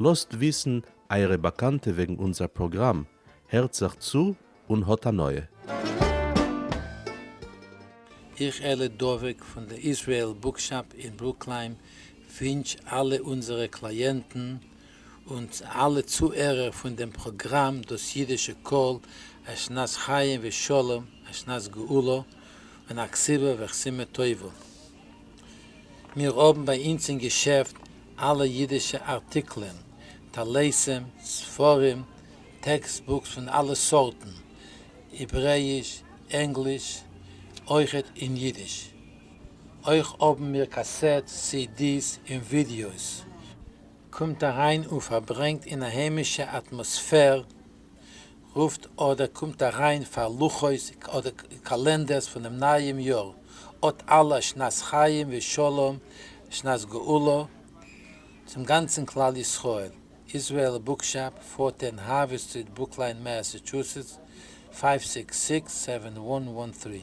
לאזט וויסן אייערע באקאנטע וועגן אונזער פראגראם, הערט זיך צו און האט הנאה. איך אלי דבק פון די איזרעאל בוקשאפ אין ברוקלין ווינטש אלע אונזערע קלייענטן און אלע צוהערער פון דעם פראגראם דאס אידישע קול א שנת חיים ושלום א שנת גאולה און א כסבה ואכסימה טובה. מיר האבן ביי אונז אין געשעפט אלע אידישע ארטיקלען, טליתים, ספרים, טעקסט בוקס פון אלע סארטן, העברעאיש, ענגליש, אויכעט אין אידיש. אויך האבן מיר קאסעט סידיס און ווידיאוס. קומט אריין און פארברענגט אין א היימישע אטמאספער רופט אדער קומט אריין פאר לוחות אדער קאלענדערס פונעם נייעם יאר, אט אלע א שנת חיים ושלום שנת גאולה צום גאנצן כלל ישראל, איזרעאל בוקשאפ, פארטען האווי סטריט ברוקליין מעסעטשוסעטס, פייוו סיקס סיקס סעווען וואן וואן טרי.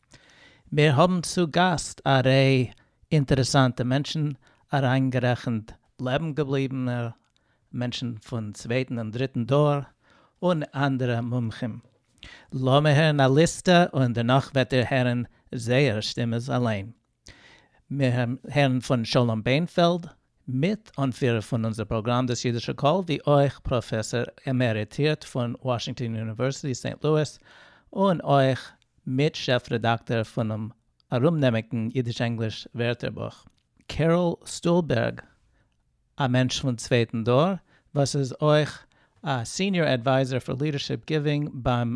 מיר האבן צו גאסט א רעי אינטערעסאנטע מענטשן אריינגערעכנט לעבן געבליבענע מענטשן פון צווייטן און דריטן דור און אנדערע מומחים. לאמיר הערן א ליסטע און דערנאך וועט איר הערן זייער שטימעס אליין. מיר הערן פון שלום בענפעלד, מיט אנפירער פון אונזער פראגראם דאס אידישע קול, ווי אויך פראפעסאר עמעריטירט פון וואשינגטאן יוניווערסיטי סעינט לואיס, און אויך מיט שעף רעדאקטאר פונעם ארומנעמיגן אידיש-ענגליש ווערטערבוך, קעראל סטולבערג, א מענטש פון צווייטן דור, וואס איז אויך א סיניאר עדווייזער פאר לידערשיפ גיווינג ביים.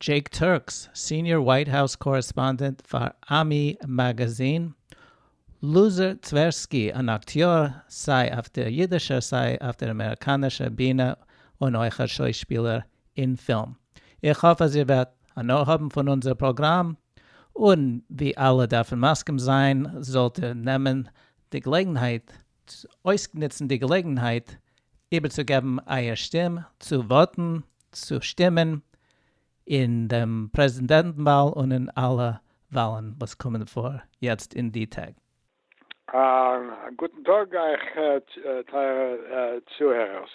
דזשעיק טורקס, סיניאר ווייט האוס קארעספאנדענט פאר עמי מאגאזין, לוזער טווערסקי, אן אקטיאר סיי אויף דער אידישער סיי אויף דער אמעריקאנישער בינע און אויך א שוישפילער אין פילם. איך האף אז איר וועט הנאה האבן פון אונזער פראגראם, און ווי אלע דארפן מסכים זיין זאלט איר נעמען די געלעגנהייט ט, אויסנוצן די געלעגנהייט איבערצוגעבן אייער שטים צו וואוטן, צו שטימען, אין דעם פרעזידענטן וואל און אין אלע וואלן וואס קומען פאר יעצט אין די טעג. א גוטן טאג אייך טייערע צוהערערס.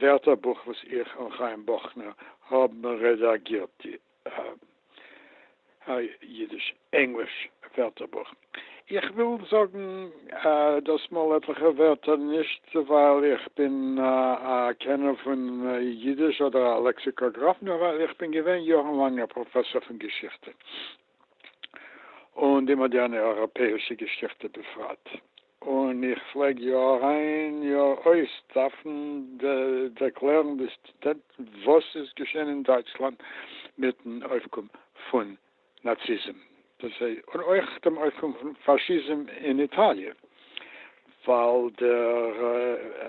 ווערטערבוך וואס איך און חיים בוכנער האבן רעדאגירט די אידיש ענגליש ווערטערבוך. איך וויל זאגן דאסמאל עטליכע ווערטער נישט ווייל איך בין א קענער פון אידיש אדער א לעקסיקאגראף נאר ווייל איך בין געווען יארן לאנג א פראפעסאר פון געשיכטע און די מאדערנע אייראפעאישע געשיכטע בפרט. און איך פלעג יא אריין יא אויס דארפן ערקלערן די סטודענטן וואס איז געשען אין דייטשלאנד מיטן אויפקום פון נאציזם, און אויך דעם אויפקום פון פאשיזם אין איטאליע, ווייל דער.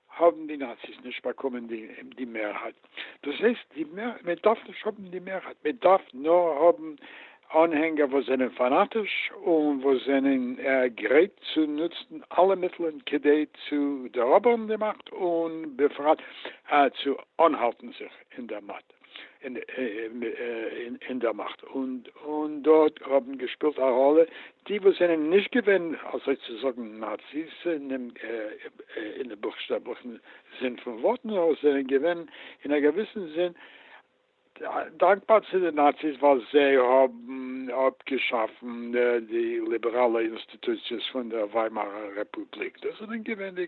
האבן די נאציס נישט באקומען די מערהייט, דאס הייסט מען דארף נישט האבן די מערהייט, מען דארף נאר האבן אנהענגער וואס זענען פאנאטיש און וואס זענען גרייט צו נוצן אלע מיטלען כדי צו דעראבערן די מאכט און בפרט צו אנהאלטן זיך אין דער מאכט. אין דער מאכט, און דארט האבן געשפילט א ראלע די וואס זענען נישט געווען אזוי צו זאגן נאציס אין בוכשטעבליכן זין פון ווארט, נאר זענען געווען אין א געוויסן זין דאנקבאר צו די נאציס ווייל זיי האבן אפגעשאפן די ליבעראלע אינסטיטוציעס פון דער וויימארער רעפובליק. דאס זענען געווען די.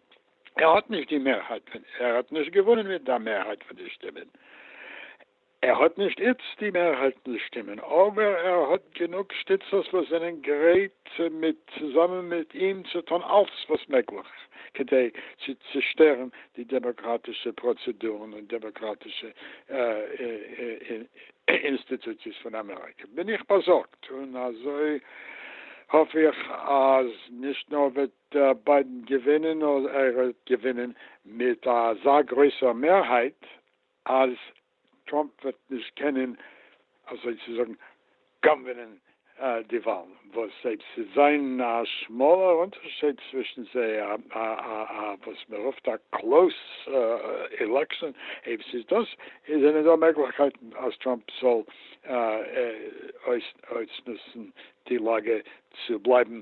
ער האט נישט די מערהייט פון ער האט נישט געוואונען מיט די מערהייט פון די שטימען, ער האט נישט איצט די מערהייט פון די שטימען, אבער ער האט גענוג שטיצערס וואס זענען גרייט מיט צוזאמען מיט אים צו טון אלץ וואס מעגליך כדי צו צעשטערן די דעמאקראטישע פראצעדורן און דעמאקראטישע אינסטיטוציעס פון אמעריקע, בין איך באזארגט און אזוי האף איך אז נישט נאר וועט דער ביידען געווינען אדער ער וועט געווינען מיט אזא גרויסער מערהייט אז טראמפ וועט נישט קענען אזוי צו זאגן גאנווענען די וואלן וואס אויב ס'וועט זיין א שמאלער אונטערשייד צווישן זיי א וואס מ'רופט א קלאוס עלעקשאן אויב ס'איז דאס זענען דא מעגליכקייטן אז טראמפ זאל אויסנוצן די לאגע צו בלייבן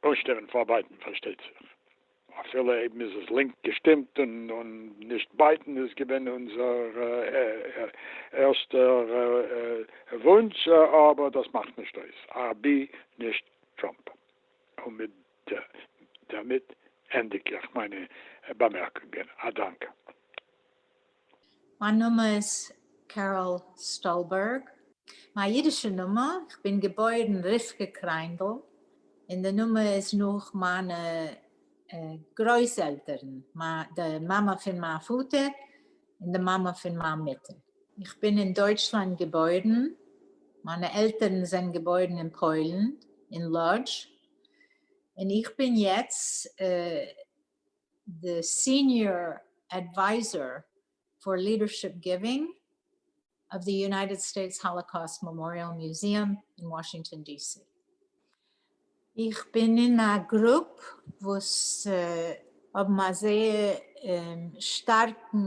פאוסטער און פאר ביידען פארשטייט זיך, אפילו אויב מ'איז עס לינק געשטימט און נישט ביידען איז געווען אונזער ערשטער וואונטש, אבער דאס מאכט נישט אויס, אבי נישט טראמפ. און מיט דערמיט ענדיג איך מיינע באמערקונגען, א דאנק. מיין נאמען איז קעראל סטאלבערג. מיין אידישע נאמען, איך בין געבוירן רבקה קריינדל, און די נאמען איז נאך מיינע גרויס עלטערן, די מאמע פון מיין פאטער און די מאמע פון מיין מוטער. איך בין אין דויטשלאנד געבוירן, מיינע עלטערן זענען געבוירן אין פוילן, אין לאדזש, און איך בין יעצט. די סיניאר עדווייזאר פאר לידערשיפ גיווינג אוו די יונייטעד סטעיטס האלאקאוסט מעמאריעל מיוזיאם אין וואשינגטאן די סי. איך בין אין א גרופ וואס האבן א זייער שטארקן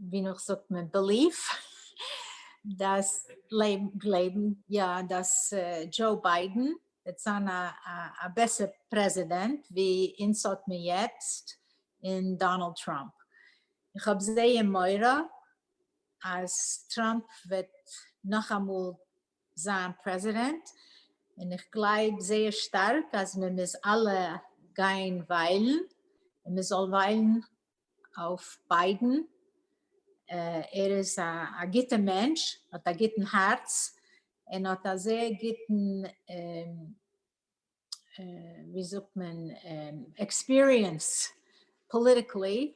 ווי נאך זאגט מען בעליף דאס גלייבן יא דאס דזשאו ביידען וועט זיין א בעסער פרעזידענט ווי אונז האט מיר יעצט אין דאנעלד טראמפ. איך האב זייער מורא אז טראמפ וועט נאכאמאל זיין פרעזידענט און איך גלייב זייער שטארק אז מען מוז אלע גיין וויילן און מען זאל וויילן אויף ביידן, ער איז א גוטע מענטש, האט א גוטן הארץ, און האט א זייער גוטן ווי זאגט מען עקספיריענס פאליטיקלי,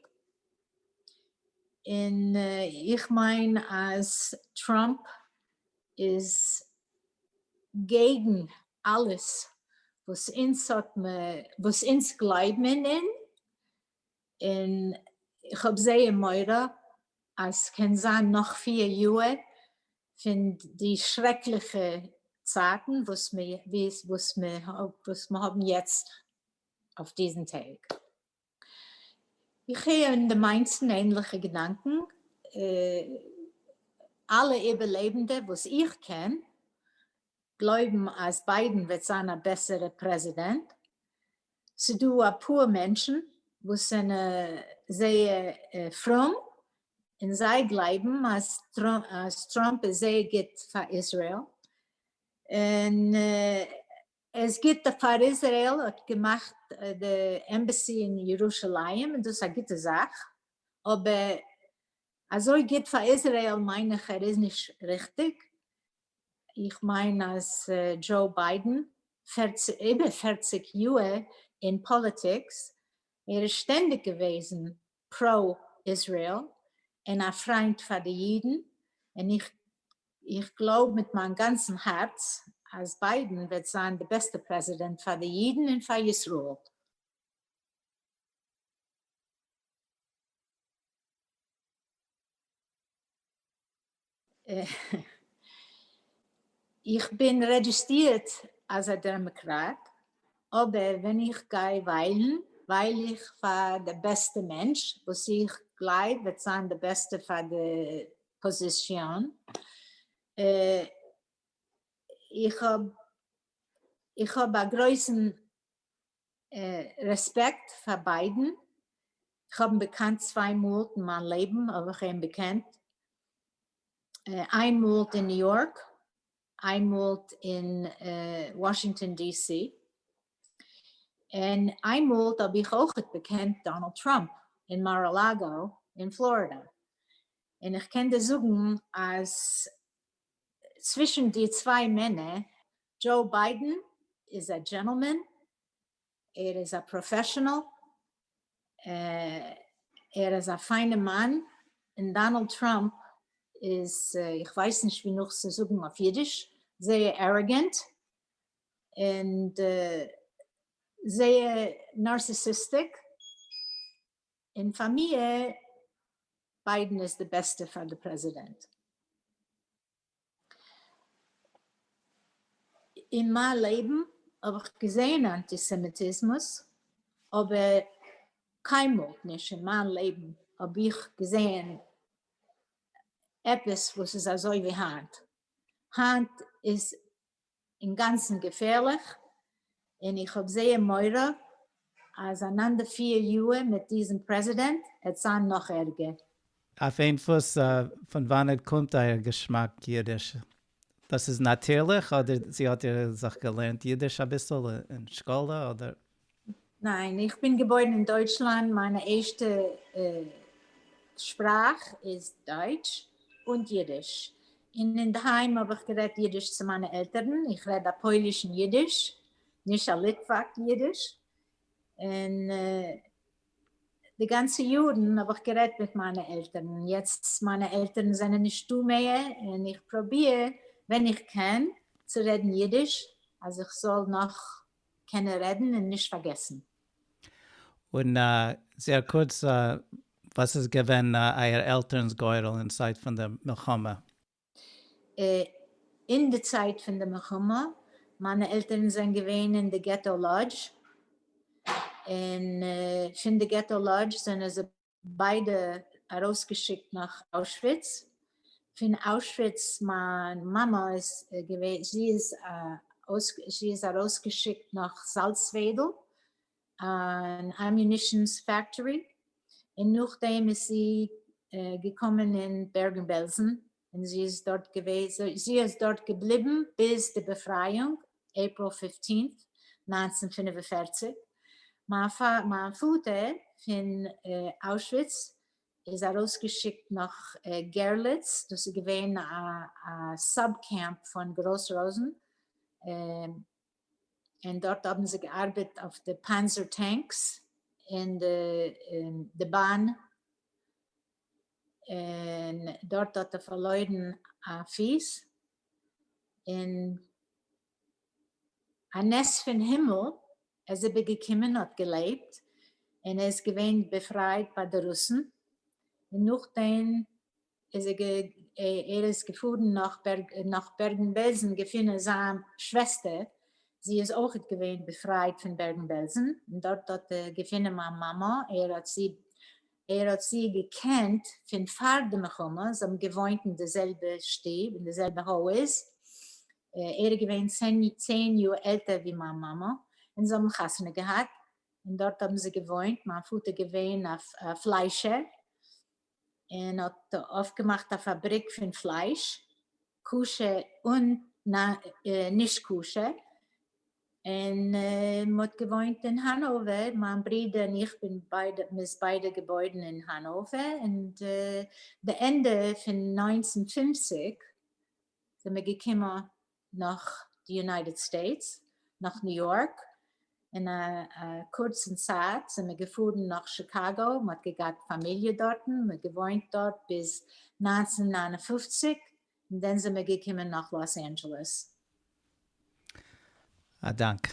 און איך מיין אז טראמפ איז געגן אלעס וואס אונז האט מען וואס אונז גלייב מען אין, און איך האב זייער מורא אז ס'קען זיין נאך פֿיר יאהר פון די שרעקליכע צייטן וואס מיר האבן יעצט אויף דיזן טעג. איך הער אין די מיינסטן ענליכע געדאנקען, אלע איבערלעבנדע וואס איך קען גלויבן אז ביידן וועט זיין א בעסערע פרעזידענט, ס'דא אפאר מענטשן וואס זענען זייער פרום און זיי גלייבן אז טראמפ איז זייער גוט פאר איזרעיל און ער איז גוט פאר איזרעיל האט געמאכט די עמבעסי אין ירושלים איז דאס א גוטע זאך אבער אזוי גוט פאר איזרעיל מיין איך ער איז נישט ריכטיג, איך מיין אז דזשאו ביידען איבער פֿערציק יאהר אין פאליטיקס ער איז שטענדיג געוועזן פרא איזרעיל און א פריינט פאר די אידן און איך איך גלויב מיט מיין גאנצן הארץ אז ביידען וועט זיין די בעסטע פרעזידענט פאר די אידן און פאר ישראל. איך בין רעדזשיסטירט אז א דעמעקראט אבער ווען איך גיי וויילן ווייל איך פאר די בעסטע מענטש וואס איך גלייב וועט זיין די בעסטע פאר די פאזישאן, איך האב איך האב א גרויסן רעספעקט פאר ביידן, כ'האב אים געקאנט צוויי מאל אין מיין לעבן האב איך אים געקענט, איין מאל אין ניו יארק, איין מאל אין וואשינגטאן די סי, און איין מאל האב איך אויכעט געקענט דאנאלד טראמפ אין מאר-א-לאגא אין פלארידע, און איך קען דיר זאגן אז צווישן די צוויי מענער, דזשאו ביידען איז א דזשענטלמען, ער איז א פראפעשענעל, ער איז א פיינע מאן, און דאנעלד טראמפ איז, איך ווייס נישט ווי נאך צו זאגן אויף אידיש, זייער עראגענט, און זייער נארסיסיסטיק. און פאר מיר ביידן איז די בעסטע פאר די פרעזידענט. אין מיין לעבן האב איך געזעהן אנטיסעמיטיזמוס אבער קיינמאל נישט אין מיין לעבן האב איך געזעהן עפעס וואס איז אזוי ווי היינט. היינט איז אינגאנצן געפערליך, און איך האב זייער מורא אז אנאנדע פיר יאהר מיט דיזן פרעזידענט עט זיין נאך ערגער. אויף איין פוס, פון וואנעט קומט אייער געשמאק אידיש? דאס איז נאטירליך אדער זי האט איר זיך געלערנט אידיש אביסל אין שכלה אדער? ניין, איך בין געבוירן אין דויטשלאנד, מיינע ערשטע שפראך איז דויטש און אידיש, און אינדערהיים האב איך גערעדט אידיש צו מיינע עלטערן, איך רעד א פוילישן אידיש, נישט א ליטוואק אידיש, און די גאנצע יארן האב איך גערעדט מיט מיינע עלטערן, יעצט מיינע עלטערן זענען נישטא מער, און איך פראביר ווען איך קען צו רעדן אידיש אז איך זאל נאך קען ער רעדן און נישט פארגעסן. און זייער קורץ, וואס איז געווען אייער עלטערנס גורל אין צייט פון די מלחמה? אין די צייט פון די מלחמה, מיינע עלטערן זענען געווען אין די געטא לאדזש, און פון די געטא לאדזש זענען זיי. ביידע ארויסגעשיקט נאך אוישוויץ, פון אוישוויץ מיין מאמע איז געווען זי איז זי איז ארויסגעשיקט נאך זאלצוועדל אן אמיונישענס פעקטארי, און נאכדעם איז זי געקומען אין בערגן בעלזן און זי איז דארט געוועזן, זי איז דארט געבליבן ביז די בעפרייאונג, April fifteenth, נײַנצן פֿינף און פֿערציק. מיין פא, מיין פאטער פון אוישוויץ איז ארויסגעשיקט נאך גערליץ, דאס איז געווען א סאב קעמפ פון גראס ראזן, און דארט האבן זיי געארבעט אויף די פאנזער טענקס און די באן און דארט האט ער פארלוירן א פיס, און א נס פון הימל ער איז איבער געקומען האט געלעבט, און ער איז געווען באפרייט ביי די רוסן, און נאכדעם איז ער ער איז געפארן נאך נאך בערגן בעלזן געפונען זיין שוועסטער, זי איז אויכעט געווען באפרייט פון בערגן בעלזן, און דארט האט ער געפונען מיין מאמע, ער האט זי ער האט זי געקענט פון פאר די מלחמה, זיי האבן געוואוינט אין די זעלבע שטוב, אין די זעלבע הויז, ער איז געווען צען יאר עלטער ווי מיין מאמע, און זיי האבן חתונה געהאט, און דארט האבן זיי געוואוינט, מיין פאטער געווען א פליישער, און האט אויפגעמאכט א פאבריק פון פלייש, כשר און נישט כשר, און מען האט געוואוינט אין האנאווער, מיין ברודער און איך בין ביידע, מען איז ביידע געבוירן אין האנאווער, און די ענדע פון נײַנצן פֿופֿציק זעמער געקומען נאך די יונייטעד סטעיטס, נאך ניו יארק, אין א קורצן צייט זענען מיר געפארן נאך שיקאגא, מען האט געגאט פאמיליע דארטן, מען האט געוואוינט דארט ביז נײַנצן נײַן און פֿופֿציק, און דאן זענען מיר געקומען נאך לאס אנדזשעלעס. א דאנק.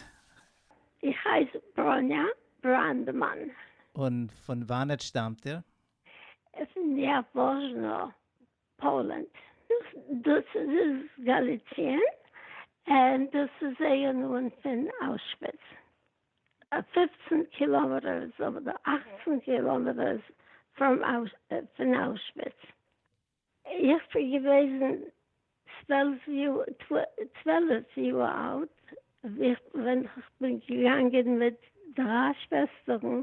איך הייס בראניא בראנדמאן. און פון וואנעט שטאמט איר? פון יאוואזשנא, פאלענד, דאס איז איז גאליציען און דאס איז זייער נאנט פון אוישוויץ, פֿופֿצן קילאמעטערס אדער אַכצן קילאמעטערס פון אוישוויץ, איך בין געוועזן צוועלף יאר אלט ווען איך בין געגאנגען מיט דריי שוועסטערן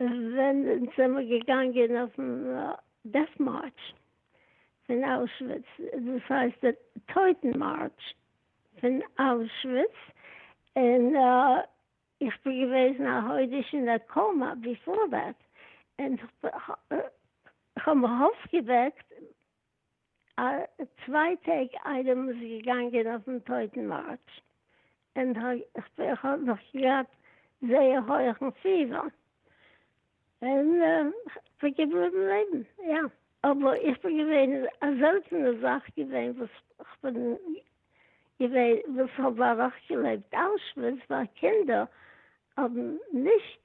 ווען אונז זעמער געגאנגען אויפן דעט מארטש פון אוישוויץ, דאס הייסט די טויטן מארטש פון אוישוויץ, און איך בין געוועזן א חודש אין א קאומא ביפאר דעט, און כ'האב מיך אויפגעוועקט א צוויי טעג איידער מ'איז געגאנגען אויפן טויטן מארטש, און איך האב נאך געהאט זייער הויעכן פיבער, און כ'בין געבליבן לעבן, יא. אבער איך בין געווען א זעלטענע זאך געווען וואס כ'בין געווען וואס האב אוועקגעלעבט אוישוויץ, ווייל קינדער האבן נישט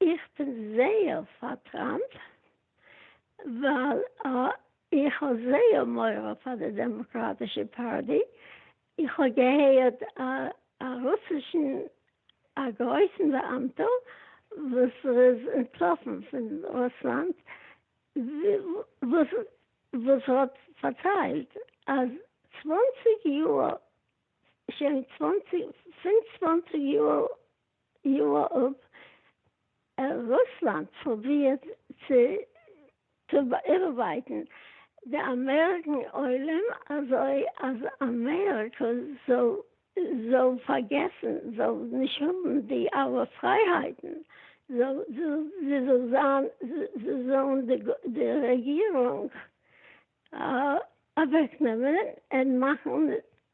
איך בין זייער פאר טראמפ ווייל איך האב זייער מורא פאר די דעמאקראטישע פארטי, איך האב געהערט א רוסישן א גרויסן באאמטע וואס ער איז אנטלאפן פון רוסלאנד וואס האט פארציילט אז צוואנציג יאר שוין פון צוואנציג יאר יואב, רוסלאנד פרובירט צו באירווייטן די אמעריקן עולם אזוי אז אמעריקע זאל פארגעסן, זאל נישט האבן די אלע פרייהייטן, זאלן די רעגירונג אוועקנעמען און מאכן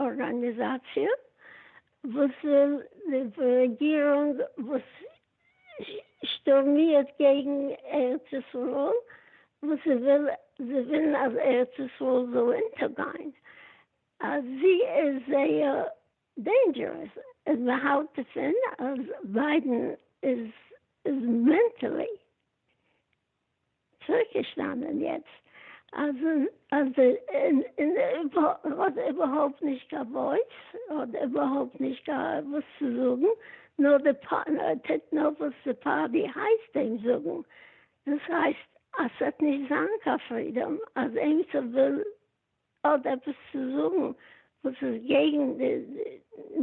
ארגאניזאציע וואס וויל די רעגירונג וואס שטורמירט קעגן ארץ ישראל וואס זיי וויל זיי ווילן אז ארץ ישראל זאל אונטערגיין אז זי איז זייער דעינדזשערעס און מען האלט דערפון אז ביידן איז מענטעלי צוריקגעשטאנען יעצט אז אז האט איבערהויפט נישט קיין וואויס, האט איבערהויפט נישט קיין וואס צו זאגן, נאר די טוט נאר וואס די פארטי הייסט אים זאגן, דאס הייסט אז ס'וועט נישט זיין קיין פרידאם אז עימיצער וויל אדער עפעס צו זאגן וואס איז געגן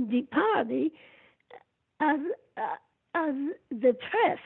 די פארטי אז אז די פרעס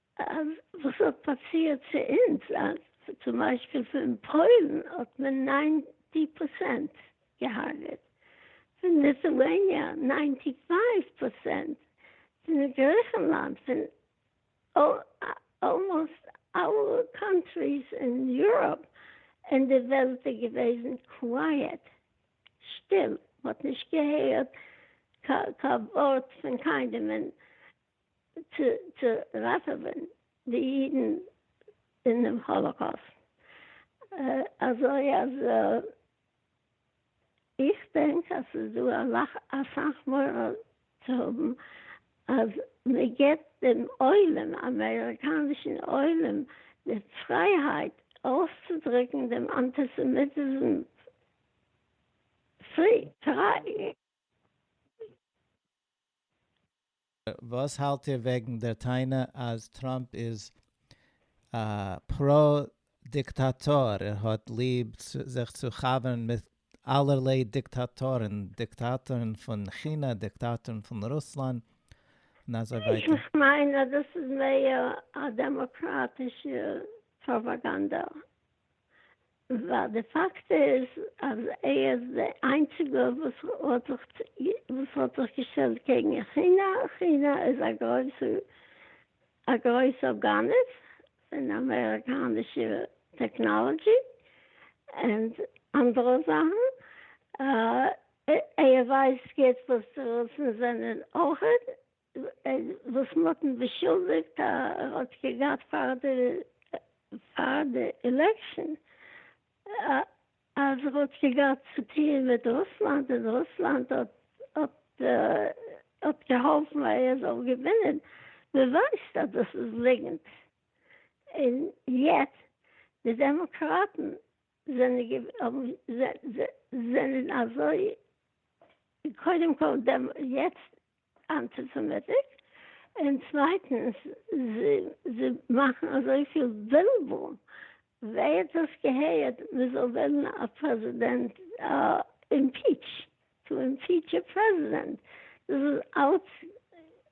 אז וואס האט פאסירט צו אונז אז צום ביישפיל פון פוילן האט מען ניינטי פראצענט געהארגעט, פון ליטואעניע ניינטי פייוו פראצענט, פון גריכנלאנד, פון אלמאסט אלע קאנטריס אין יוראפ, און די וועלט איז געוועזן קווייעט, שטיל, מ'האט נישט געהערט קיין ווארט פון קיינעם, און צו ראטעווען די אידן אינעם האלאקאוסט, אזוי אז איך דענק אז ס'איז דא אסאך מורא צו האבן אז מען געבט דעם עולם, אמעריקאנישן עולם, די פרייהייט אויסצודרוקן דעם אנטיסעמיטיזם פרי. וואס האלט איר וועגן דער טענה אז טראמפ איז א פרא דיקטאטאר, ער האט ליב זיך צו חבר'ן מיט אלערליי דיקטאטורן, דיקטאטורן פון כינע, דיקטאטורן פון רוסלאנד, און אזוי ווייטער? איך מיין אז דאס איז מער א דעמאקראטישע פראפאגאנדע ווייל די פאקט איז אז ער איז די איינציגע וואס האט זיך געשטעלט קעגן כינע, כינע איז א גרויסע א גרויסע גנב פון אמעריקאנישע טעקנאלעדזשי און אנדערע זאכן, ער ווייסט גוט וואס די רוסן זענען אויכעט וואס מען האט אים באשולדיגט אז ער האט געהאט פאר די פאר די אילעקשאן אז ער האט געהאט צו טוען מיט רוסלאנד און רוסלאנד האט האט געהאלפן אז ער זאל געווינען, מען ווייסט אז דאס איז ליגענט און יעצט די דעמאקראטן זענען אזוי קודם כל דעם יעצט אנטיסעמיטיק און צווייטענס זיי מאכן אזויפיל בלבול ווער האט דאס געהערט מען זאל וועלן א פרעזידענט אימפיטש טו אימפיטש א פרעזידענט דאס איז אלץ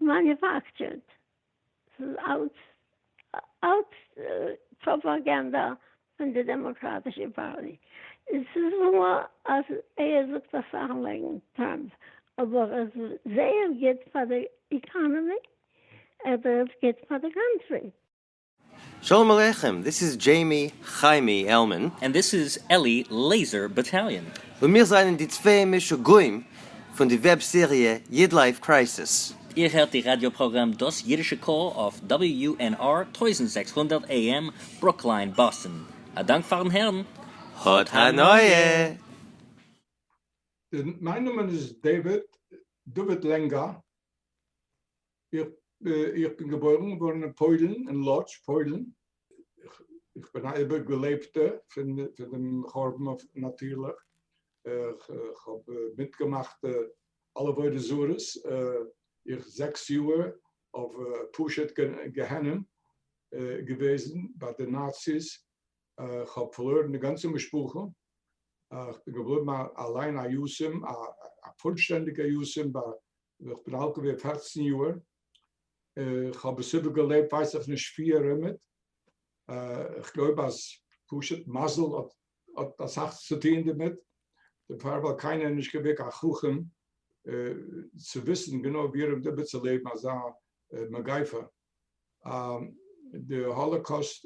מאניופעקטשערד אלץ אלץ פראפאגאנדע פון די דעמאקראטישע פארטי. עס איז וואר אז ער זאגט אסאך וועגן טראמפ, אבער ער איז זייער גוט פאר די איקאנעמי, ער איז גוט פאר די קאנטרי. שלום עליכם, דיס איז דזשעימי חיימי עלמען. ענד דיס איז עלי לעיזער באטאליאן. און מיר זענען די צוויי משוגעים פון די וועב סעריע איד לייף קרייסיס. איר הערט די ראדיא פראגראם דאס אידישע קול אויף WNR טויזנט זעקס הונדערט AM ברוקלין באסטן. א דאנק פארן הערן. האט הנאה! מיין נאמען איז דעיוויד, דוד לענגא. איך בין געבוירן געווארן אין פוילן, אין לאדזש, פוילן. איך בין א איבערגעלעבטע פון דעם חורבן נאטירליך. איך האב מיטגעמאכט אלע עבודה זרות. איך זעקס יאהר אויף פשוט גיהנום געוועזן ביי די נאציס. איך האב פארלוירן די גאנצע משפחה. איך בין געבליבן אליין א יתום, א פולשטענדיגער יתום, ביי איך בין אלט געווען פֿערצן יאהר, איך האב עס איבער געלעבט ווייס איך נישט ווי ארום מיט, איך גלויב אז פשוט מזל האט אסאך צו טוהן דערמיט, דערפאר ווייל קיינער איז נישט געווען קיין חכם צו וויסן גענוי ווי ארום איבער צו לעבן אזא מגיפה, די האלאקאוסט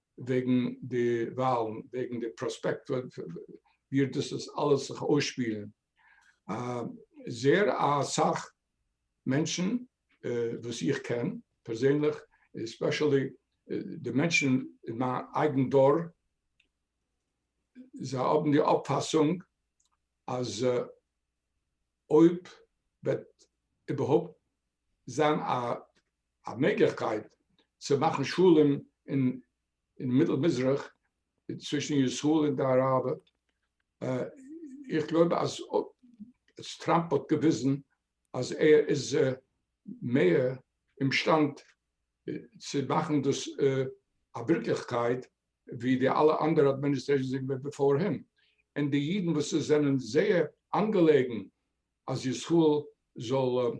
וועגן די וואלן, וועגן די פראספעקט ווי דאס וועט אלעס זיך אויסשפילן, זעהר אסאך מענטשן וואס איך קען פערזענליך, עספעשעלי די מענטשן אין מיין אייגן דור, זיי האבן די אויפפאסונג אז אויב וועט איבערהויפט זיין א א מעגליכקייט צו מאכן שלום אין מיטל מזרח צווישן ישראל און די אראבער, איך גלויב אז טראמפ האט געוויזן אז ער איז מער אומשטאנד צו מאכן דאס א ווירקליכקייט ווי די אלע אנדערע אדמיניסטרעישאנס געווען בעפאר אים, און די אידן וואס עס זענען זייער אנגעלעגן אז ישראל זאל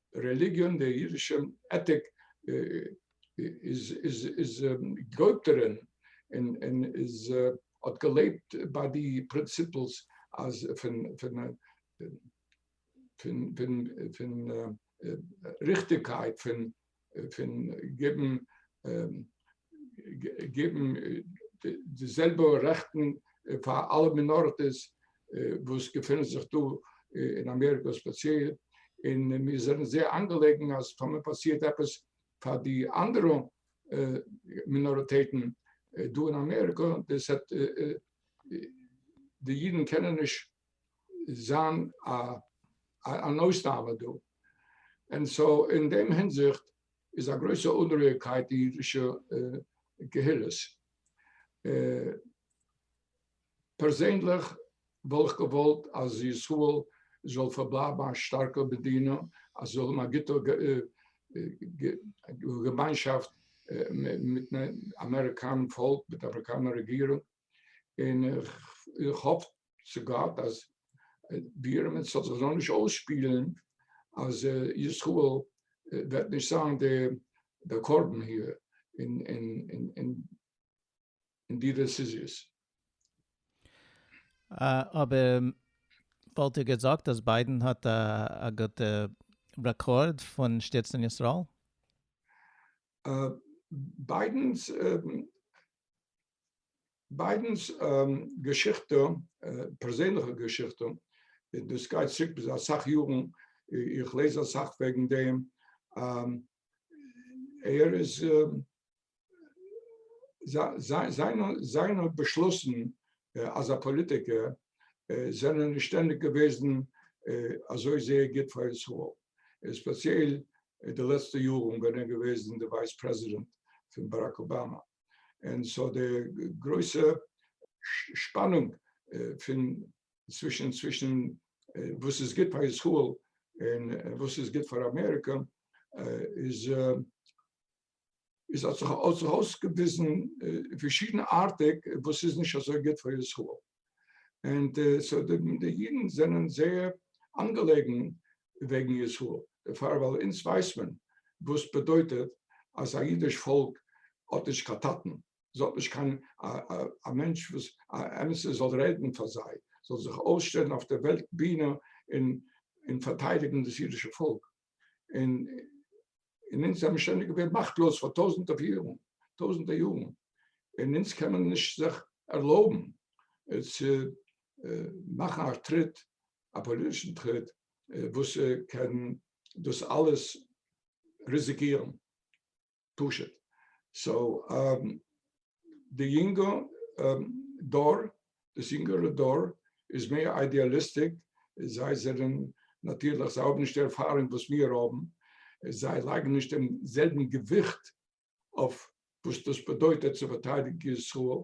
די רעליגיאן, די אידישע עטיק איז געויפטערען און איז האט געלעבט ביי די פרינציפלס אז פון פון פון פון ריכטיגקייט פון פון געבן געבן די זעלבע רעכטן פאר אלע מינאריטיס וואס געפינען זיך דא אין אמעריקא ספעציעל, און מיר זענען זייער אנגעלעגן אז טאמער פאסירט עפעס פאר די אנדערע מינאריטעטן דא אין אמעריקא, דאס העט די אידן קענען נישט זיין אן אויסנאם דא, און סאו אין דעם הינזיכט איז א גרויסע אנרוהיגקייט אין אידישע קהילות. פערזענליך וואלט איך געוואלט אז ישראל זאל פארבלייבן א שטארקע מדינה, אז זאל האבן א גוטע געמיינשאפט מיטן אמעריקאנעם פאלק, מיט אמעריקאנער רעגירונג, און איך האף צו גאט אז בירעם זאל זיך זאל נישט אויסשפילן אז ישראל וועט נישט זיין די קרבן היער אין אין אין אין די דעסיזיעס. אבער וואלט איר געזאגט אז ביידען האט א גוטע רעקארד פון שטיצן ישראל? ביידען'ס ביידען'ס געשיכטע, פערזענליכע געשיכטע, דאס גייט צוריק ביז אסאך יארן, איך לעז אסאך וועגן דעם, ער איז, זיינע באשלוסן אז א פאליטיקער, זענען נישט שטענדיג געוועזן אזוי זייער גוט פאר ישראל, ספעציעל די לעצטע יארן ווען ער איז געוועזן די ווייס פרעזידענט פון באראק אבאמא. און סאו די גרויסע שפאנונג פון צווישן צווישן וואס איז גוט פאר ישראל און וואס איז גוט פאר אמעריקא איז איז האט זיך אויסגעוויזן פארשידנארטיג וואס איז נישט אזוי גוט פאר ישראל אנד סאו די אידן זענען זייער אנגעלעגן וועגן ישראל, דערפאר ווייל אונז ווייסט מען וואס סבעדויטעט אז א אידיש פאלק האט נישט קיין טאטן, זיי האט נישט קיין א מענטש וואס א אמת'ער זאל רעדן פאר זיי, זאל זיך אויסשטעלן אויף די וועלט בינע און פארטיידיגן דאס אידישע פאלק. און אונז זעמיר שוין געווען מאכטלאז פאר טויזענטער יארן, טויזענטער יארן, און אונז קען מען נישט זיך ערלויבן צו מאכן א טריט, א פאליטישן טריט וואס קען דאס אלעס ריזיקירן. פשוט סאו די יונגע דור דאס יונגערע דור איז מער איידיאליסטיק זיי זענען נאטירליך זיי האבן נישט די ערפארונג וואס מיר האבן זיי לייגן נישט דעם זעלבן געוויכט אויף וואס דאס באדויטעט צו פארטיידיגן ישראל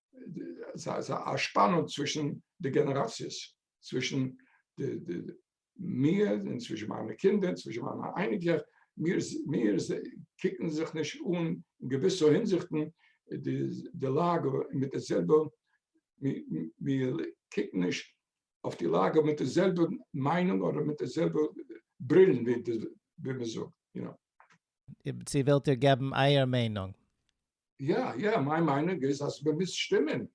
סאיז א שפאנונג צווישן די גענעראציעס, צווישן מיר און צווישן מיינע קינדער און צווישן מיינע אייניגע, מיר קוקן זיך נישט אן אין געוויסע הינזיכטן די לאגע מיט די זעלבע, מיר קוקן נישט אויף די לאגע מיט די זעלבע מיינונג אדער מיט די זעלבע ברילן ווי מען זאגט. צו ווילט איר געבן אייער מיינונג? יא יא, מיין מיינונג איז אז מען מוז שטימען,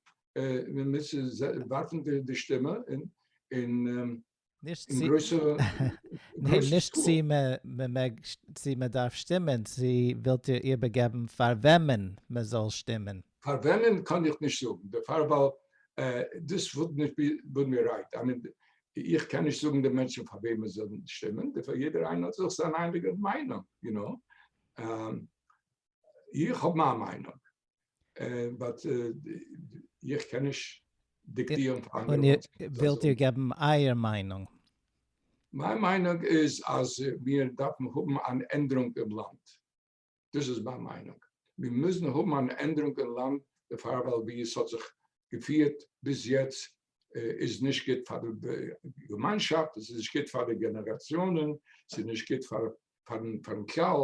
מען מוז ווארפן די שטימע אין אין גרויסע סקול. נישט צו מען מעג, צו מען דארף שטימען, צו ווילט איר איבערגעבן פאר וועמען מען זאל שטימען? פאר וועמען קאן איך נישט זאגן דערפאר ווייל דאס וואלט נישט בין מיר רייט, איך קען נישט זאגן די מענטשן פאר וועם עס זאל שטימען, דערפאר יעדער איינער האט זיך זיין אייניגע מיינונג, יו נאו. איך האב מיין מיינונג, באט איך קען נישט דיקטירן פאר אנדערע מענטשן וואס זיי זאלן. און ווילט איר געבן אייער מיינונג? מיין מיינונג איז אז מיר דארפן האבן אן ענדערונג אין לאנד. דאס איז מיין מיינונג. מיר מוזן האבן אן ענדערונג אין לאנד דערפאר ווייל ווי עס האט זיך געפירט ביז יעצט איז נישט גוט פאר די געמיינשאפט, עס איז נישט גוט פאר די גענעראציאנען, עס איז נישט גוט פארן כלל,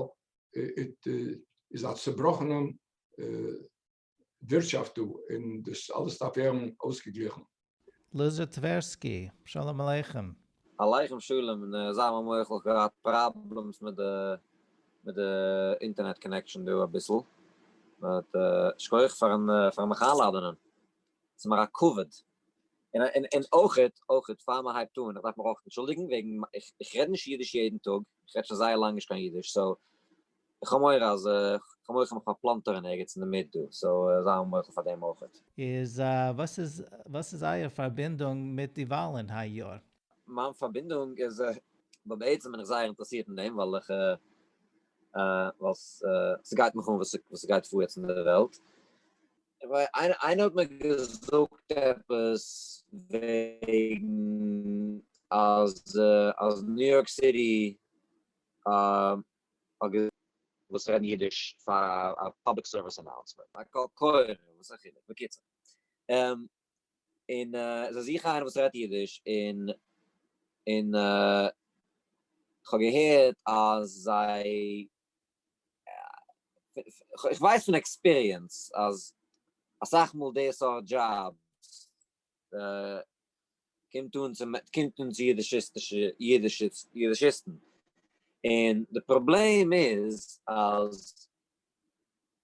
איז א צובראכענעם ווירטשאפט דא, און דאס אלעס דארף ווערן אויסגעגליכן. לוזי טווערסקי, שלום עליכם. עליכם שלום, און זיי מיר מוחל, כ'האב געהאט פראבלעמס מיט די מיט די אינטערנעט קאנעקשאן דא אביסל, באט שכוח פארן פארן מיך איינלאדענען, ס'מיר א כבוד, און און אויכעט אויכעט פאר מען הייבט אן, איך דארף מיך אויך אנטשולדיגן וועגן איך רעד נישט אידיש יעדן טאג, איך רעד שוין זייער לאנג נישט קיין אידיש, סאו איך האב מורא אז כ'האב מורא כ'האב מיך פארפלאנטערן ערגעץ אינדערמיט דא, סאו זיי האבן מוחל פאר דעם אויכעט. איז וואס איז וואס איז אייער פארבינדונג מיט די וואלן היי יאר? מיין פארבינדונג איז ווייל בעצם בין איך זייער אינטערעסירט אין דעם ווייל איך ווייל ס'גייט מיך אן וואס ס'גייט פאר יעצט אין די וועלט, איינער האט מיר געזאגט עפעס וועגן אז אז ניו יארק סיטי האט געזאגט וואס רעדן אידיש פאר א פאבליק סערוויס אנאונסמענט, א קול קורא, וואס א חילוק, בקיצור און זיי זוכן איינער וואס רעדט אידיש און און כ'האב געהערט אז זיי כ'ווייס פון עקספיריענס אז אסאך מאל די סארט דזשאבס קומט אן צו קומט אן צו אידישיסטישע אידישיסטן און די פראבלעם איז אז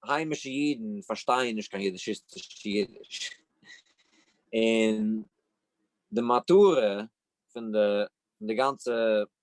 היימישע אידן פארשטייען נישט קיין אידישיסטישע אידיש און די מטרה פון די גאנצע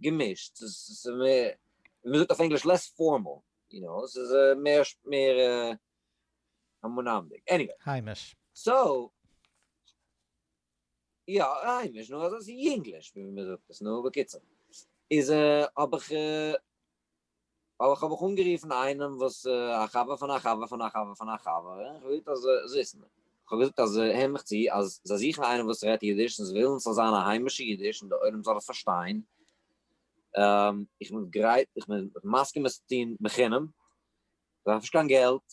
געמישט, ס'איז מער, ווי מ'זאגט אויף ענגליש לעס פארמאל, יו נאו, ס'איז מער, מער המונים'דיג, עניוועי. היימיש. סאו, יא, היימיש, נו, אזוי, ס'איז יונגליש, ווי מ'זאגט עס, נו, בקיצור, איז האב איך. ווייל איך האב איך אנגערופן איינעם וואס א חבר פון א חבר פון א חבר פון א חבר, און איך האב געזאגט אז זיסן, איך האב געזאגט אז הער מיך צו, אז זיי זוכן איינעם וואס רעדט אידיש, און זיי ווילן ס'זאל זיין א היימישע אידיש און דער עולם זאל עס פארשטיין, איך בין גרייט, איך בין מסכים עס צו טון בחינם, איך דארף נישט קיין געלט,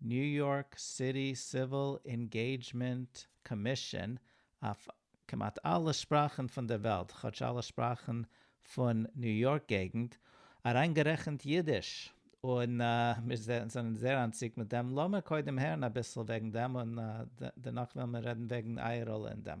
ניו יארק סיטי סיוויל אינגעידזשמענט קאמישאן אויף כמעט אלע שפראכן פון דער וועלט, כאטש אלע שפראכן פון ניו יארק געגנט, אריינגערעכנט אידיש, און מיר זענען זייער אנטציקט מיט דעם, לאמיר קודם הערן אביסל וועגן דעם און דערנאך וועלן מיר רעדן וועגן אייער ראלע אין דעם.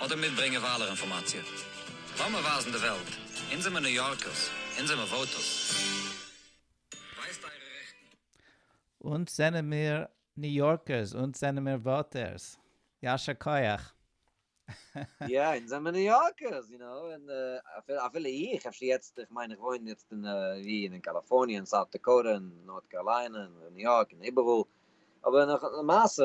אדער מיטברענגען וויילער אינפארמאציע. לאמיר ווייזן די וועלט, אונז זעמיר ניו יארקערס, אונז זעמיר וואוטערס. ווייזט אייערע רעכטן. אונז זענעמיר ניו יארקערס, אונז זענעמיר וואוטערס. יישר כח. יא, אונז זעמיר ניו יארקערס, יו נאו, און אפילו איך, אפשר יעצט, איך מיין איך וואוין יעצט אין, ווי, אין קאליפארניע, אין סאוט דעקאוטע, אין נארט קארליינע, אין ניו יארק, אין איבעראל, אבער למעשה,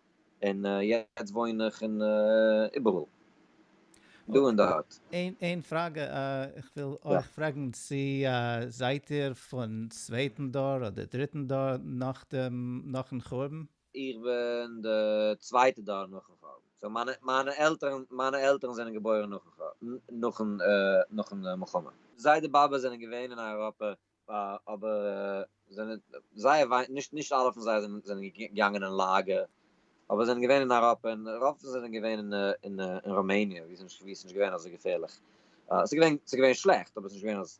און יעצט וואוין איך אין איבעראל דא אין די האט. איין פראגע, איך וויל אויך פרעגן צו זייט איר פון צווייטן דור אדער דריטן דור נאכן חורבן? איך בין די צווייטע דור נאכן חורבן, סאו מיינע עלטערן מיינע עלטערן זענען געבוירן נאכן נאכן מלחמה. זיידע באבע זענען געווען אין אייראפע אבער זענען זייער וויי נישט נישט אלע פון זיי זענען זענען געגאנגען אין לאגער אבער זענען געווען אין אייראפע און רוב פון זיי זענען געווען אין אין אין ראמעניע ווי ס'נישט ווי ס'נישט געווען אזוי געפערליך ס'איז געווען ס'איז געווען שלעכט אבער ס'נישט געווען אז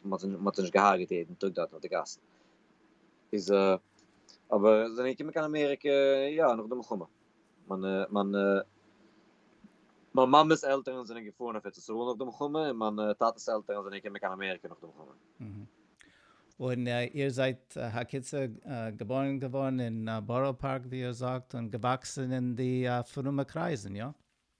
מ'האט מ'האט זיי נישט געהארגעט יעדן טאג דארטן אויף די גאסן איז אבער זענען געקומען קיין אמעריקע יא נאך די מלחמה. מיינע מיינע מיין מאמעס עלטערן זענען געפארן אויף ארץ ישראל נאך די מלחמה און מיינע טאטעס עלטערן זענען געקומען קיין אמעריקע נאך די מלחמה. און איר זייט הקיצור געבוירן געווארן אין בארא פארק ווי איר זאגט און געוואקסן אין די פרומע קרייזן, איא?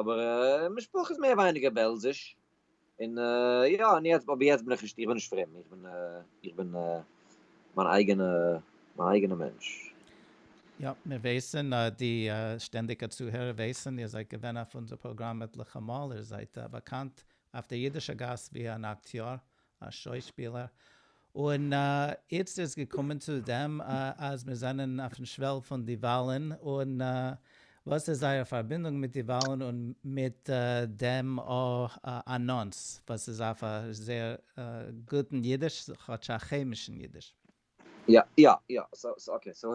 אבער משפחה איז מער ווייניגער בעלזיש, און יא, און יעצט, אבער יעצט בין איך נישט, איך בין נישט פרום, איך בין, איך בין מיין אייגענע, מיין אייגענע מענטש. יא, מיר ווייסן, די שטענדיגע צוהערער ווייסן, איר זייט געווען אויף אונזער פראגראם עטליכע מאל, איר זייט באקאנט אויף דער אידישער גאס ווי אן אקטיאר, א שוישפילער, און איצט איז געקומען צו דעם אז מיר זענען אויפן שוועל פון די וואלן, און וואס איז זייער פארבינדונג מיט די וואלן און מיט דעם אנאנס וואס איז אויף א זייער גוטן אידיש, כאטש א כעמישן אידיש. יא יא יא, סאו סאו אקעי, סאו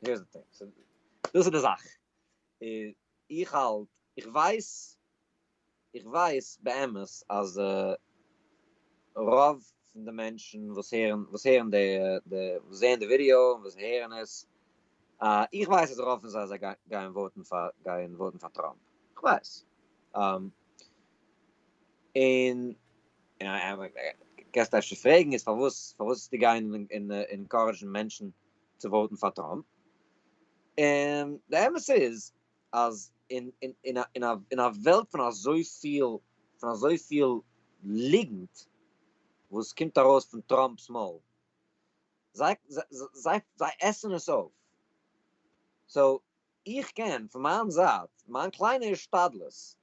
הערס די טינג, דאס איז די זאך, איך האלט, איך ווייס איך ווייס באמת אז רוב פון די מענטשן וואס הערן וואס הערן די די וואס זעען די ווידיאו און וואס הערן עס איך ווייס אז רוב פון זיי זיי גייען וואוטן פאר גייען וואוטן פאר טראמפ איך ווייס און קענסט אפשר פרעגן איז פארוואס פארוואס איז די גיין און אינקארעדזשן מענטשן צו וואוטן פאר טראמפ און די אמת איז אז אין אין אין אין א וועלט פון אזויפיל פון אזויפיל ליגנט וואס קומט ארויס פון טראמפ'ס מויל, זיי זיי זיי עסן עס אויף, סאו איך קען פון מיין זייט מיין קליינע השתדלות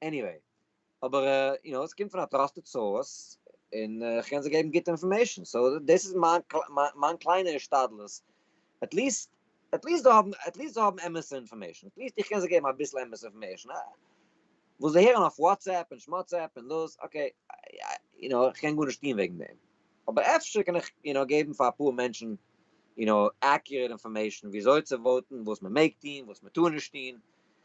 עניוועי, אבער יו נאו, עס קומט פון א טראסטעד סאורס, און איך קען זיי געבן גוטע אינפארמעישן, סאו דאס איז מיין קליינע השתדלות, עטליעסט עטליעסט זיי האבן עטליעסט זיי האבן אמת'ע אינפארמעישן, עטליעסט איך קען זיי געבן אביסל אמת'ע אינפארמעישן, וואס זיי הערן אויף וואטסעפפ און שמאטסעפפ און דאס, אקעי, יו נאו, איך קען גארנישט טון וועגן דעם, אבער אפשר קען איך יו נאו געבן פאר אפאר מענטשן יו נאו עקיוראט אינפארמעישן וויאזוי צו וואוטן, וואס מען מעג טון, וואס מען טאר נישט טון,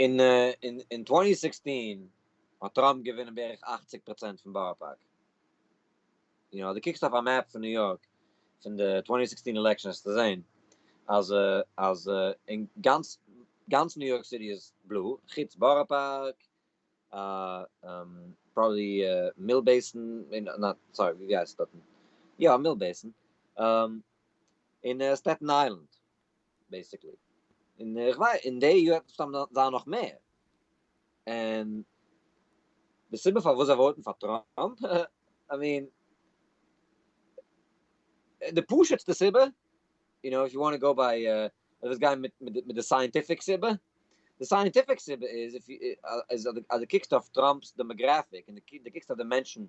אין טווענטי סיקסטין האט טראמפ געווינען בערך אכציג פראצענט פון בארא פארק, און אז דו קוקסט אויף א מעפ פון ניו יארק פון די טווענטי סיקסטין עלעקשאן וועסטו זעהן אז אז אין גאנץ גאנץ ניו יארק סיטי איז בלוי, חוץ בארא פארק, פראבעבלי מיל בעיסן, סארי ווי הייסט עס דארטן, יא מיל בעיסן, און סטעטן איילענד. בעיסיקלי, און איך ווייס אין די יאר וועט מסתם זיין נאך מער, און די סיבה פארוואס זיי וואוטן פאר טראמפ, איי מין, די פשוט'סטע סיבה, יו נאו איף יו וואנט טו גאו ביי, דו ווילסט גיין מיט די סייענטיפיק סיבה, די סייענטיפיק סיבה איז אז דו קוקסט אויף טראמפ'ס דעמאגרעפיק און דו קוקסט אויף די מענטשן,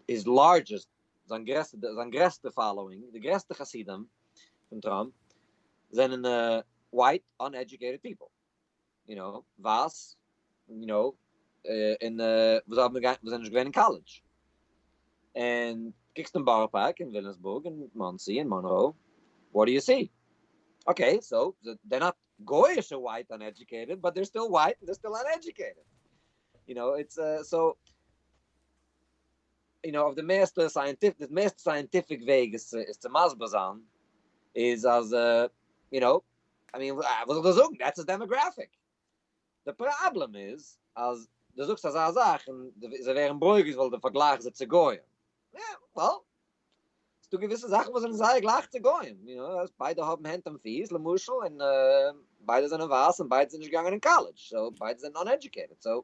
היז לארדזשעסט זיין גרעסטע זיין גרעסטע פאלאווינג די גרעסטע חסידים פון טראמפ זענען ווייט אנעדזשוקעיטעד פיפל יו נאו ווייס יו נאו און וואס האבן געווען וואס זענען נישט געווען אין קאלעדזש און קוקסט אין בארא פארק און וויליאמסבורג און מאנסי און מאנרא וואט דו יו סי אקעי סאו דער נאט גויאישע ווייט אנעדזשוקעיטעד באט דער סטיל ווייט און דער סטיל אנעדזשוקעיטעד יו נאו איטס סאו יו נאו אויף די מערסטע סייענטיפיק די מערסטע סייענטיפיק וועג עס עס צו מסביר זיין איז אז יו נאו איי מין וואס זאל איך דיר זאגן דעטס איז דעמאגרעפיק די פראבלעם איז אז די זאגסט אזא זאך און זיי ווערן ברוגז ווייל די פארגלייכסט זיי צו גוים וועל ס'דא געוויסע זאכן וואס זענען זייער גלייך צו גוים יו נאו אז ביידע האבן הענט און פיס למשל און ביידע זענען ווייס און ביידע זענען נישט געגאנגען אין קאלעדזש סאו ביידע זענען אנעדזשוקעיטעד סאו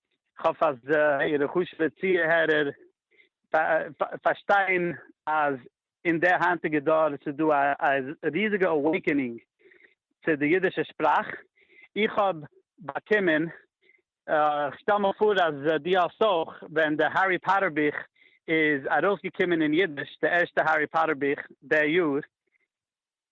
כ'האף אז אייערע חשוב'ע צוהערער פארשטייען אז אין די היינטיגע דור ס'איז דא א ריזיגע אוועיקענינג צו די אידישע שפראך. איך האב באקומען, כ'שטעל מיר פאר אז דו האסט אויך, ווען די הערי פאטער בוך איז ארויסגעקומען אין אידיש, די ערשטע הערי פאטער בוך די יאר,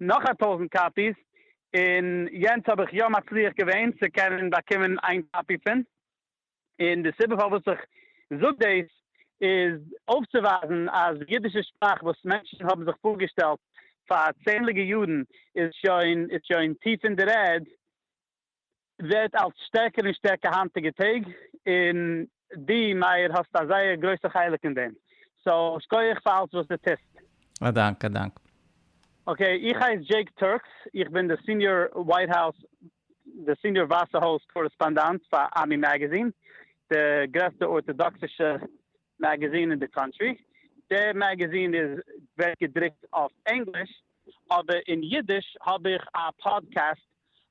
נאך א טויזנט קאפיס, און יענץ האב איך יא מצליח געווען צו קענען באקומען איין קאפי פון, און די סיבה פארוואס איך זאג דאס איז אויפצואווייזן אז די אידישע שפראך וואס מענטשן האבן זיך פארגעשטעלט פאר צענדליגע יארן איז שוין איז שוין טיף אין דער ערד, ווערט אלץ שטערקער און שטערקער היינטיגע טעג, און דו מאיר האסט א זייער גרויסע חלק אין דעם, סאו שקויעך פאר אלץ וואס דו טוסט. א דאנק א דאנק. אקעי, איך הייס דזשעיק טורקס, איך בין די סיניאר ווייט האוס, די סיניאר ווייסע הויז קארעספאנדאנט פאר עמי מעגעזין, די גרעסטע ארטאדאקסישע מעגעזין אין די קאנטרי, די מעגעזין איז ווערט געדרוקט אויף ענגליש, אבער אין אידיש האב איך א פאדקעסט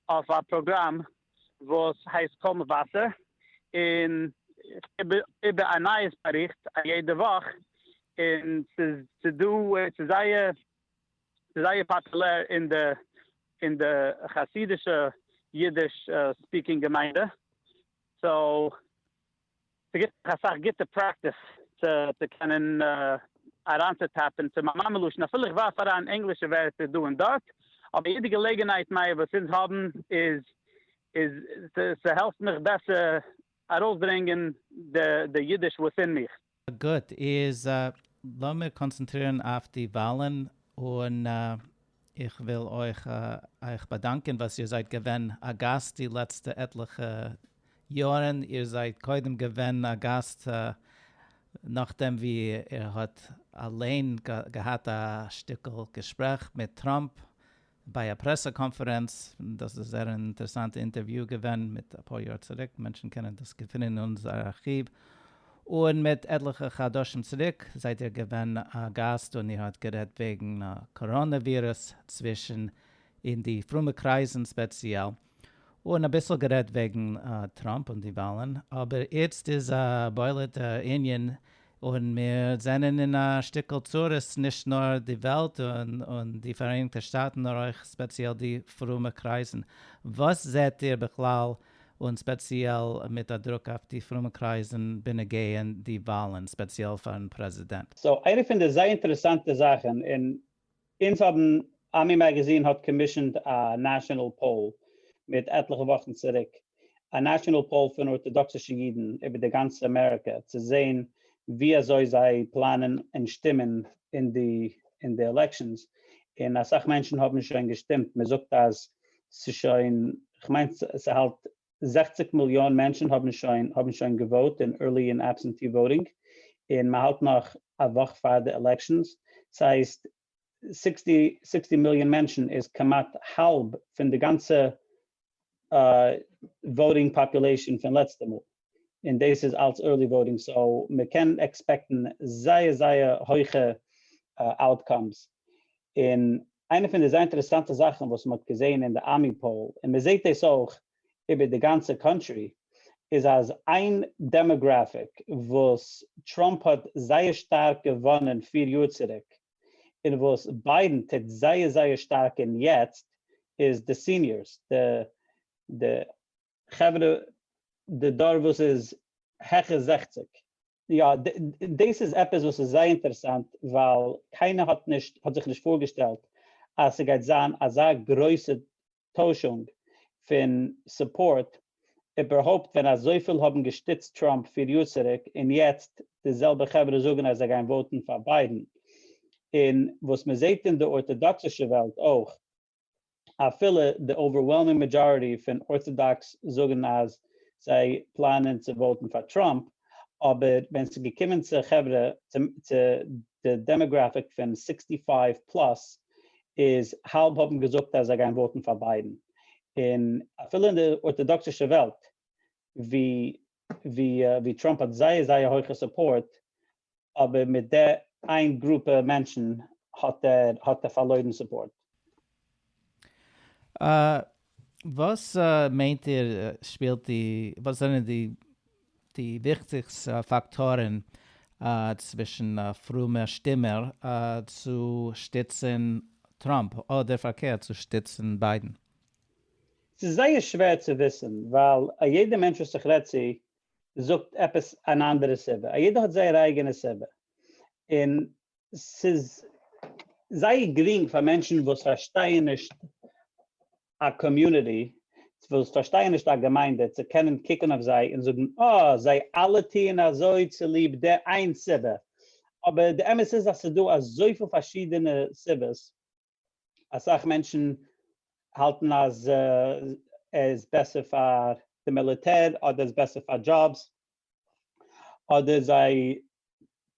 אויף א פראגראם וואס הייסט קול מבשר, און איך גיב איבער א נייעס באריכט א יעדע וואך, און ס'איז דא ס'איז זייער ס'איז זייער פאפולער אין די אין די חסידישע אידיש ספיקינג געמיינדע, סאו. ס'גיט דיך אסאך גוטע פרעקטיס צו קענען אריינצוטאפן צו מיין מאמע לשון, אפילו איך ווארף אריין ענגלישע ווערטער דא און דארט, אבער יעדע געלעגנהייט נייע וואס אונז האבן איז איז ס'העלפט מיך בעסער ארויסברענגען די אידיש וואס אין מיך. גוט, איז לאמיר קאנצענטרירן אויף די וואלן, און איך וויל אויך אייך באדאנקען וואס איר זייט געווען א גאסט די לעצטע עטליכע יארן, איר זייט קודם געווען א גאסט נאכדעם ווי איר האט אליין געהאט א שטיקל געשפרעך מיט טראמפ, ביי א פרעסע קאנפערענץ, דאס איז זייער אן אינטערעסאנטע אינטערוויו געווען מיט אפאר יאר צוריק, מענטשן קענען דאס געפינען אין אונזער ארכיוו, און מיט עטליכע חדשים צוריק זייט איר געווען א גאסט און איר האט גערעדט וועגן קאראנע ווירוס צווישן אין די פרומע קרייזן ספעציעל, און אביסל גערעדט וועגן טראמפ און די וואלן, אבער איצט איז א בולעט ענין און מיר זענען אין א שטיקל צרות נישט נאר די וועלט און די פאראייניגטע שטאטן נאר אויך ספעציעל די פרומע קרייזן. וואס זעהט איר בכלל און ספעציעל מיט א דרוק אויף די פרומע קרייזן בנוגע די וואלן, ספעציעל פארן פרעזידענט? סאו איינע פון די זייער אינטערעסאנטע זאכן און אונז האבן, עמי מאגאזין האט קאמישענד א נעשאנעל פאול מיט עטליכע וואכן צוריק, א נעשאנעל פאול פון ארטאדאקסישע אידן איבער די גאנצע אמעריקע, צו זען ווי אזוי זיי פלאנען און שטימען אין די אין די עלעקשאנס, און אסאך מענטשן האבן שוין געשטימט, מען זאגט אז ס'שוין, כ'מיין ס'האלט זעכציק מיליאן מענטשן האבן שוין האבן שוין געוואוט אין ערלי און עבסענטי וואוטינג און מען האלט נאך א וואך פאר די עלעקשאנס ס'הייסט סיקסטי סיקסטי מיליאן מענטשן איז כמעט האלב פון די גאנצע וואוטינג פאפולעישאן פון לעצטע מאל און דאס איז אלץ ערלי וואוטינג סאו מען קען עקספעקטן זייער זייער הויכע אוטקאמס און איינע פון די זייער אינטערעסאנטע זאכן וואס מ'האט געזען אין די ארמי פאול, און מ'זעט דאס אויך איבער די גאנצע קאנטרי, איז אז איין דעמאגראפיק וואס טראמפ האט זייער שטארק געוואנען פיר יאר צוריק, און וואס ביידן טוט זייער זייער שטארק אין יעצט, איז די סיניארס, די די חברה, די דור וואס איז העכער זעכציג. יא, דאס איז עפעס וואס איז זייער אינטערעסאנט, ווייל קיינער האט נישט האט זיך נישט פארגעשטעלט אז ס'גייט זיין אזא גרויסע טוישונג פון סופארט, איבערהויפט ווען אזויפיל האבן געשטיצט טראמפ פיר יאר צוריק און יעצט די זעלבע חברה זאגן אז זיי גייען וואוטן פאר ביידן, און וואס מ'זעט אין די ארטאדאקסישע וועלט אויך. אפילו די אווערוועלמינג מעדזשאריטי פון ארטאדאקס זאגן אז זיי פלאנען צו וואוטן פאר טראמפ, אבער ווען ס'איז געקומען צו חברה צו די דעמאגראפיק פון סיקסטי פייוו פלאס איז האלב האבן געזאגט אז זיי גייען וואוטן פאר ביידן, און אפילו אין די ארטאדאקסישע וועלט ווי טראמפ האט זייער זייער הויכע סופארט אבער מיט די איין גרופע מענטשן האט ער האט ער פארלוירן סופארט. וואס מיינט איר שפילט די וואס זענען די די וויכטיגסט פאקטארן צווישן פרומע שטימער צו שטיצן טראמפ אדער פארקערט צו שטיצן ביידן? ס'איז זייער שווער צו וויסן ווייל א יעדע מענטש וואס איך רעד צו זאגט עפעס אן אנדערע סיבה, א יעדער האט זייער אייגענע סיבה, און ס'איז זייער גרינג פאר מענטשן וואס פארשטייען נישט א קאמיוניטי, וואס פארשטייען נישט א געמיינדע, צו קענען קוקן אויף זיי און זאגן אה, זיי אלע טוען אזוי צוליב די איין סיבה, אבער די אמת איז אז ס'איז דא אזויפיל פארשידענע סיבות, אסאך מענטשן האלטן אז עס איז בעסער פאר די מיליטער אדער איז בעסער פאר דזשאבס אדער זיי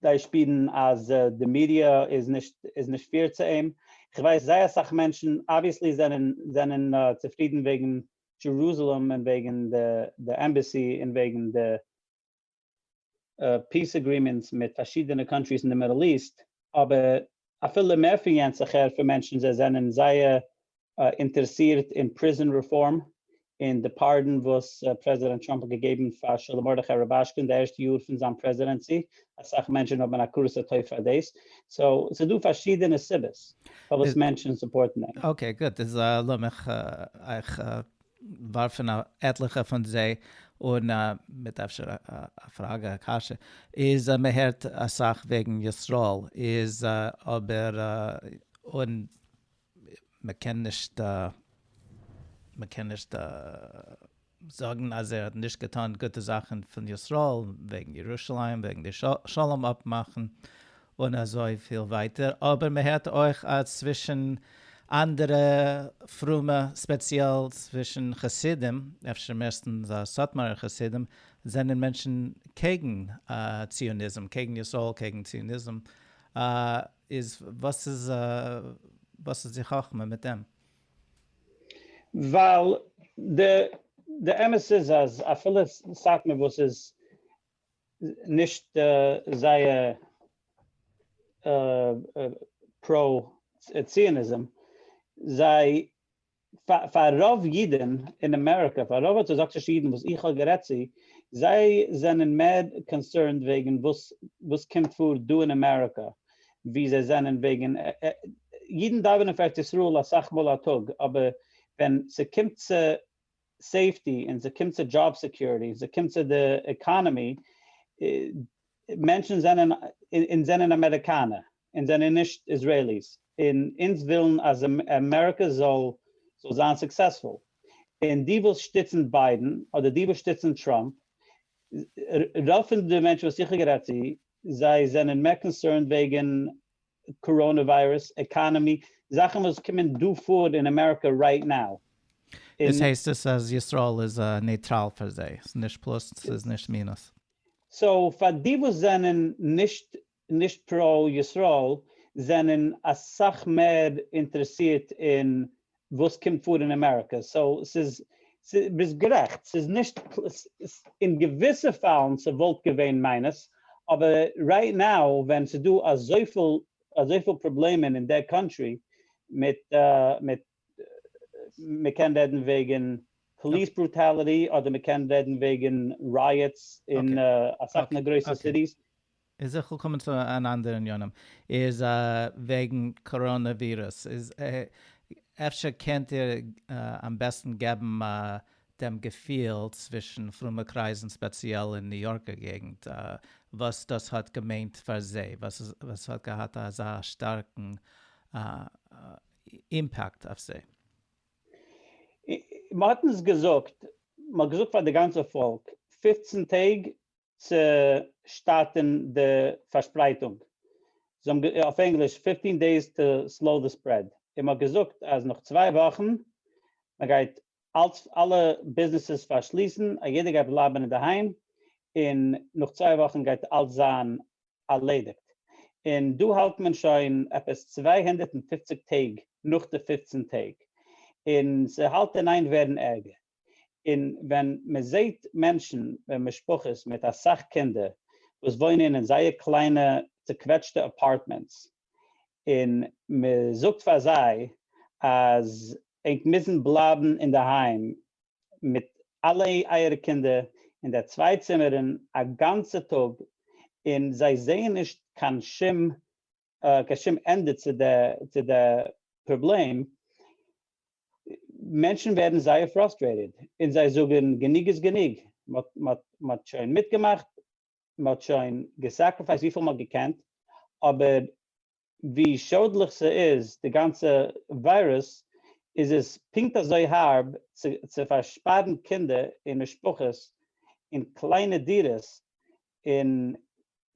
זיי שפירן אז די מידיע איז נישט איז נישט פעיר צו אים, איך ווייס זייער אסאך מענטשן אבוויעסלי זענען זענען צופרידן וועגן דזשערוזעלעם און וועגן די עמבעסי און וועגן די פיס אגרימענטס מיט פארשידענע קאנטריס אין די מידל איסט, אבער אפילו מער פון יענץ איך הער פון מענטשן זיי זענען זייער אינטערעסירט אין פריזאן רעפארם און די פארדאן וואס פרעזידענט טראמפ האט געגעבן פאר שלום מרדכי רובאשקין אין די ערשטע יאר פון זיין פרעזידענסי, אסאך מענטשן האבן הכרת הטוב פאר דאס, סאו ס'איז דא פארשידענע סיבות פארוואס מענטשן סופארטן אים. אקעי גוט, איז לאמיך אייך. ווארפן א עטליכע פון זיי אן מיט אפשר א פראגע א קשיא, איז מען הערט אסאך וועגן ישראל איז אבער און מען קען נישט מען קען נישט זאגן אז ער האט נישט געטאן גוטע זאכן פון ישראל וועגן ירושלים וועגן די שלום אפמאכן און אזוי פיל ווייטער, אבער מען הערט אויך אז צווישן אנדערע פרומע ספעציעל צווישן חסידים, אפשר מערסטנס סאטמארער חסידים, זענען מענטשן קעגן ציוניזם, קעגן ישראל, קעגן ציוניזם, איז וואס איז וואס איז די חכמה מיט דעם? ווייל די אמת איז אז אפילו סאטמאר וואס איז נישט זייער פרא ציוניזם, זיי פאר רוב אידן אין אמעריקא, פאר רוב ארטאדאקסישע אידן וואס איך האב גערעדט צו, זיי זענען מער קאנסערנד וועגן וואס וואס קומט פאר דא אין אמעריקא, ווי זיי זענען וועגן, אידן דאווענען פאר ארץ ישראל אסאך מאל א טאג, אבער ווען ס'קומט צו סעיפטי און ס'קומט צו דזשאב סעקיוריטי און ס'קומט צו די עקאנעמי, מענטשן זענען, אונז זענען אמעריקאנער, אונז זענען נישט איזרעיליס, און אונז ווילן אז אמעריקע זאל זיין סוקסעספול, און די וואס שטיצן ביידן אדער די וואס שטיצן טראמפ, רוב פון די מענטשן וואס איך האב גערעדט צו, זיי זענען מער קאנסערנד וועגן קאראנע וויירוס, עקאנעמי, זאכן וואס קומען דא פאר אין אמעריקע רייט נאו. דאס הייסט עס אז ישראל איז נייטראל פאר זיי, ס'איז נישט פלוס ס'איז נישט מינוס. סאו פאר די וואס זענען נישט נישט פראו ישראל זענען אסאך מער אינטערעסירט אין וואס קומט פאר אין אמעריקע, סאו ס'איז, ביסט גערעכט, ס'איז נישט, אין געוויסע פאלן ס'וואלט געווען מיינוס, אבער רייט נאו ווען ס'איז דא אזויפיל אזויפיל פראבלעמען אין דער קאנטרי מיט מיט מ'קען רעדן וועגן פאליס ברוטאליטי אדער מ'קען רעדן וועגן רייעטס אין אסאך פון די גרויסע סיטיס, איז איך וויל קומען צו אן אנדערע ענינים איז וועגן קאראנע ווירוס איז אפשר קענט איר אמבעסטן געבן דעם געפיל צווישן פרומע קרייזן ספעציעל אין ניו יארקער געגנט וואס דאס האט געמיינט פאר זיי וואס האט געהאט אזא שטארקן אימפעקט אויף זיי. מען האט אונז געזאגט מען האט געזאגט פאר די גאנצע פאלק פֿופֿצן טעג צו שטארטען די פארשפרייטונג, אויף ענגליש, fifteen days to slow the spread, און מען האט געזאגט אז נאך צוויי וואכן מען גייט אלץ אלע ביזנעסעס פארשליסן, א יעדער גייט בלייבען אינדערהיים, און נאך צוויי וואכן גייט אלץ זיין ארלעדיגט, און דא האלט מען שוין עפעס צוויי הונדערט און פופציג טעג נאך די פופצן טעג, און ס'האלט אין איין ווערן ערגער. און ווען מען זעהט מענטשן און משפחות מיט אסאך קינדער וואס וואוינען אין זייער קליינע צוקוועטשטע אפארטמענטס און מען זאגט פאר זיי אז ענק מוזן בלייבן אינדערהיים מיט אלע אייערע קינדער אין די צוויי צימערן א גאנצע טאג און זיי זעהן נישט קיין שום קיין שום ענדע צו די צו די פראבלעם, מענטשן ווערן זייער פראסטרעיטעד און זיי זאגן גענוג איז גענוג, מ'האט מ'האט שוין מיטגעמאכט, מ'האט שוין געסעקריפייסט וויפיל מ'האט געקענט, אבער ווי שאדליך ס'איז די גאנצע וויירוס, איז עס פונקט אזוי הארב צו צו פארשפארן קינדער און משפחות אין קליינע דירות און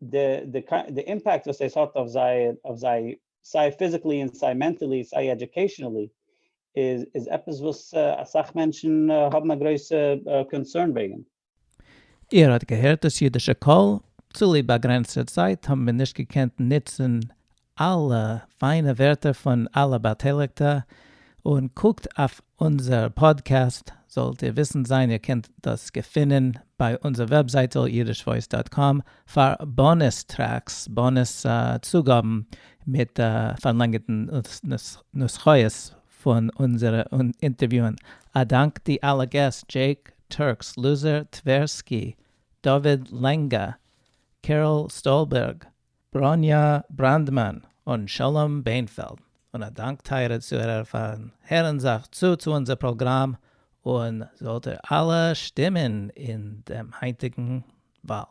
די אימפעקט וואס דאס האט אויף זיי סיי פיזיקלי און סיי מענטעלי סיי עדיוקעישענעלי איז עפעס וואס אסאך מענטשן האבן א גרויסע קאנסערן וועגן. איר האט געהערט דאס אידישע קול? צוליב באגרענצטע צייט האבן מיר נישט געקענט נוצן אלע פיינע ווערטער פון אלע באטייליגטע, און קוקט אויף אונזער פאדקעסט, זאלט איר וויסענד זיין איר קענט דאס געפינען ביי אונזער וועבזייטל יידישוואויס דאט קאם פאר באנוס טרעקס, באנוס צוגאבן מיט פארלענגערטן נוסחאות פון אונזערע אינטערוויוען. א דאנק די אלע געסט, דזשעיק טורקס, לוזער טווערסקי, דוד לענגא, קעראל סטאלבערג, בראָניאַ בראַנדמאַן און שלום בענפֿעלד, און אַ דאַנק, טײַערע צוהערער, פֿאַרן הערן זיך צו צו אונדזער פּראָגראַם, און זאָלט איר אַלע שטימען אין דעם הײַנטיקן װאַל.